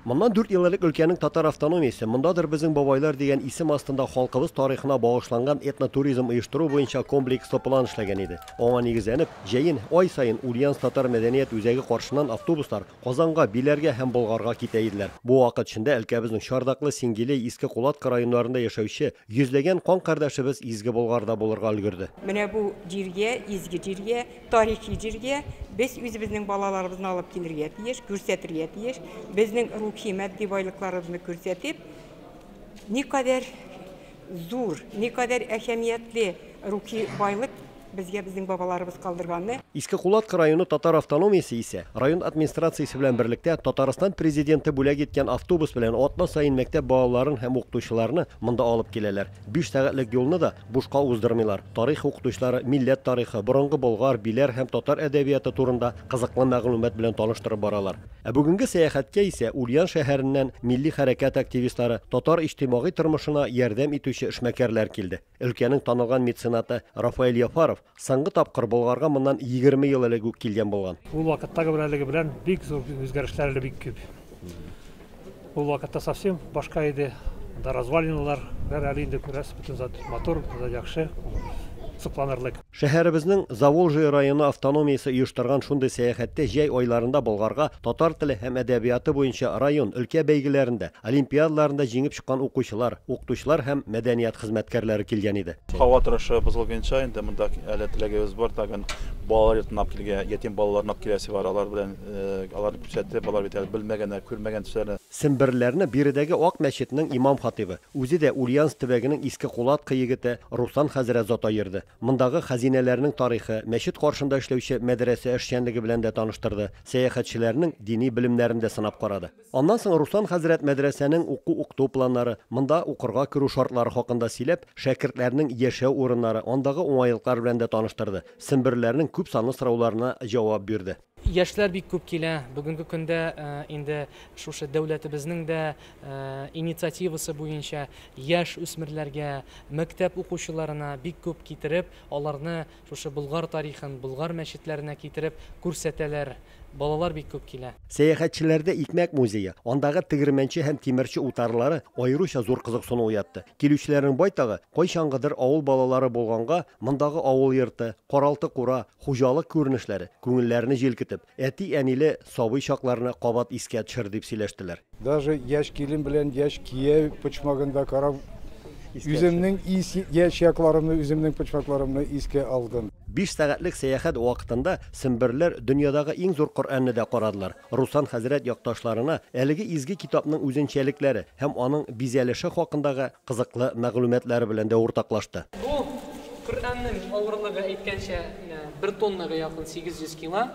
Моннан дүрт ел элек өлкәнең татар автономиясе, мондадыр безнең бабайлар дигән исем астында халкыбыз тарихына багышланган этнотуризм оештыру буенча комплекслы план эшләгән иде. Аңа нигезләнеп, җәен, ай саен Ульяновск татар мәдәният үзәге каршыннан автобуслар Казанга, Биләргә һәм Болгарга китә иделәр. Бу вакыт эчендә өлкәбезнең Чардаклы, Сингилей, Иске Кулатка районнарында яшәүче йөзләгән кан кардәшебез Изге Болгарда булырга өлгерде. Менә бу җиргә, Изге җиргә, Тарихи җиргә без үзебезнең балаларыбызны алып килергә тиеш, күрсәтергә тиеш. Безнең рухи, матди байлыкларыбызны күрсәтеп, никадәр зур, никадәр әһәмиятле рухи байлык безгә безнең бабаларыбыз калдырганны, Иске Кулаткы районы татар автономиясе исә, район администрациясе белән берлектә, Татарстан Президенты бүләк иткән автобус белән атна саен мәктәп балаларын һәм укытучыларны монда алып киләләр. Биш сәгатьлек юлны да бушка уздырмыйлар. Тарих укытучылары милләт тарихы, борынгы болгар, биләр һәм татар әдәбияты турында кызыклы мәгълүмат белән таныштырып баралар. Ә бүгенге сәяхәткә исә Ульян шәһәреннән милли хәрәкәт активистлары, татар иҗтимагый тормышына ярдәм итүче эшмәкәрләр килде. Өлкәнең танылган меценаты Рафаэль Яфаров Соңгы тапкыр Болгарга моннан егерме ел элек үк килгән булган. Ул вакыттагы белән әлеге белән бик зур үзгәрешләр әле бик күп. Ул вакытта совсем башка иде. Да развалиналар, бер әле инде күрәсез, бөтен зат матур, зат яхшы, сокланырлык. Шәһәребезнең Заволжье районы автономиясе оештырган шундый сәяхәттә җәй айларында Болгарга татар теле һәм әдәбияты буенча район, өлкә бәйгеләрендә, олимпиадаларында җиңеп укыткан укучылар, укытучылар һәм мәдәният хезмәткәрләре килгән иде. Һава торышы бозылгынча, инде монда әле теләгебез бар, тагын балалар йортына алып килергә, ятим балаларны алып киләсе бар, алар белән, аларны күрсәтеп, алар бит әле белмәгәннәр, күрмәгән төсләре. Семберләрне биредәге Ак мәчетнең имам-хатыйбы, үзе дә Ульяновск төбәгенең Иске Кулатка егете Руслан хәзрәт Зота йөрде. Мондагы хәзинәләрнең тарихы, мәчет каршында эшләүче мәдрәсә эшчәнлеге белән дә таныштырды, сәяхәтчеләрнең дини белемнәрен дә сынап карады. Аннан соң Руслан хәзрәт мәдрәсәнең уку-укыту планнары, монда укырга керү шартлары хакында сөйләп, шәкертләрнең яшәү урыннары, андагы уңайлыклар белән дә таныштырды, семберләрнең күп санлы сорауларына җавап бирде. Яшьләр бик күп килә. Бүгенге көндә инде шушы дәүләтебезнең дә инициативасы буенча яшь үсмерләргә, мәктәп укучыларына бик күп китереп, аларны Шушы Болгар тарихын Болгар мәчетләренә китереп күрсәтәләр. Балалар бик күп килә. Сәяхәтчеләрдә Икмәк музее, андагы тегермәнче һәм тимерче утарлары аеруча зур кызыксыну уятты. Килүчеләрнең байтагы, кайчангыдыр авыл балалары булганга, мондагы авыл йорты, каралты-кура, хуҗалык күренешләре, күңелләрне җилкетеп, Әти-әниле сабый чакларны кабат искә төшер, дип сөйләштеләр. Даже яшь килен белән яшь кияү почмагында карап, үземнең яшь якларымны, үземнең почмакларымны искә алдым. Биш сәгатьлек сәяхәт вакытында семберләр дөньядагы иң зур Коръәнне дә карадылар. Руслан хәзрәт якташларына әлеге изге китапның үзенчәлекләре һәм аның бизәлеше хакындагы кызыклы мәгълүматлары белән дә уртаклашты. Бу, Коръәннең авырлыгы әйткәнчә, менә бер тоннага якын, 800 кило.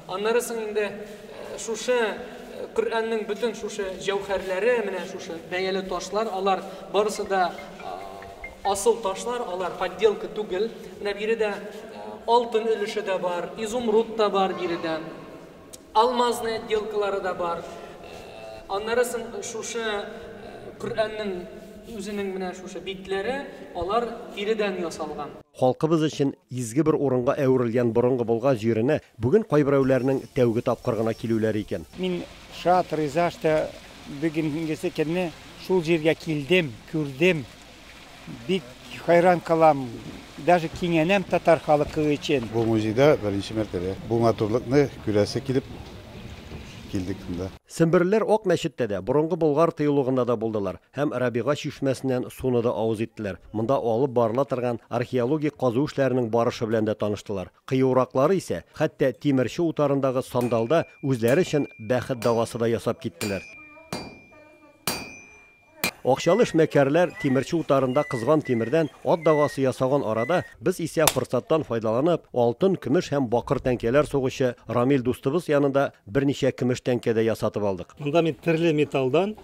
Аннары соң инде шушы Коръәннең бөтен шушы җәүһәрләре, менә шушы бәяле ташлар, алар барысы да асыл ташлар, алар подделка түгел. Менә биредә алтын өлеше дә бар, изумруд та бар биредә. Алмазный отделкалары да бар. Аннары сон шушы Коръәннең үзенең менә шушы битләре, алар тиредән ясалган. Халкыбыз өчен изге бер урынга әверелгән борынгы Болга җиренә бүген кайберәүләрнең тәүге тапкыр гына килүләре икән. Мин шат, риза, что бүгенгесе көнне шул җиргә килдем, күрдем, Бик хайран калам, даже кинәнәм татар халыкы өчен. Бу музейда беренче мәртәбә бу матурлыкны күрәсе килеп килдек монда. Семберлеләр Ак мәчеттә дә, борынгы Болгар тыюлыгында да булдылар һәм Рабига чишмәсеннән суны да авыз иттеләр, монда алып барыла торган археологик казу эшләренең барышы белән дә таныштылар. Кыюраклары исә, хәтта Тимерче утарындагы Сандалда үзләре өчен бәхет давасы да ясап киттеләр. Акчалы эшмәкәрләр тимерче утарында кызган тимердән ат дагасы ясаган арада, без исә форсаттан файдаланып, алтын, көмеш һәм бакыр тәңкәләр сугучы Рамил дустыбыз янында берничә көмеш тәңкә дә ясатып алдык. Монда мин төрле металлдан,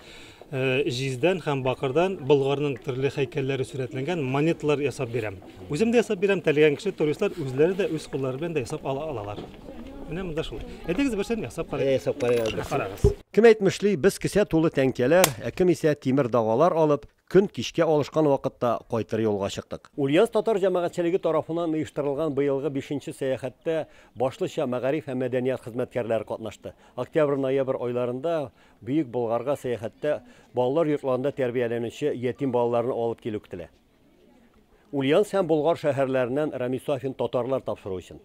җиздән һәм бакырдан Болгарның төрле һәйкәлләре сурәтләнгән монеталар ясап бирәм. Үзем дә ясап бирәм, теләгән кеше, туристлар үзләре дә үз куллары белән дә ясап ала алалар. Менә монда шул. Әйдәгез берсен ясап карыйк. Ясап карыйк. Карагыз. Кем әйтмешли, без кесә тулы тәңкәләр, ә кем исә тимер дагалар алып, көн кичкә алышкан вакытта кайтыр юлга чыктык. Ульяновск татар җәмәгатьчелеге тарафыннан оештырылган быелгы бишенче сәяхәттә башлыча мәгариф һәм мәдәният хезмәткәрләре катнашты. Октябрь-ноябрь айларында Бөек Болгарга сәяхәттә балалар йортларында тәрбияләнүче ятим балаларны алып килү көтелә. Ульяновск һәм Болгар шәһәрләреннән Рамис Сафин татарлар тапшыру өчен.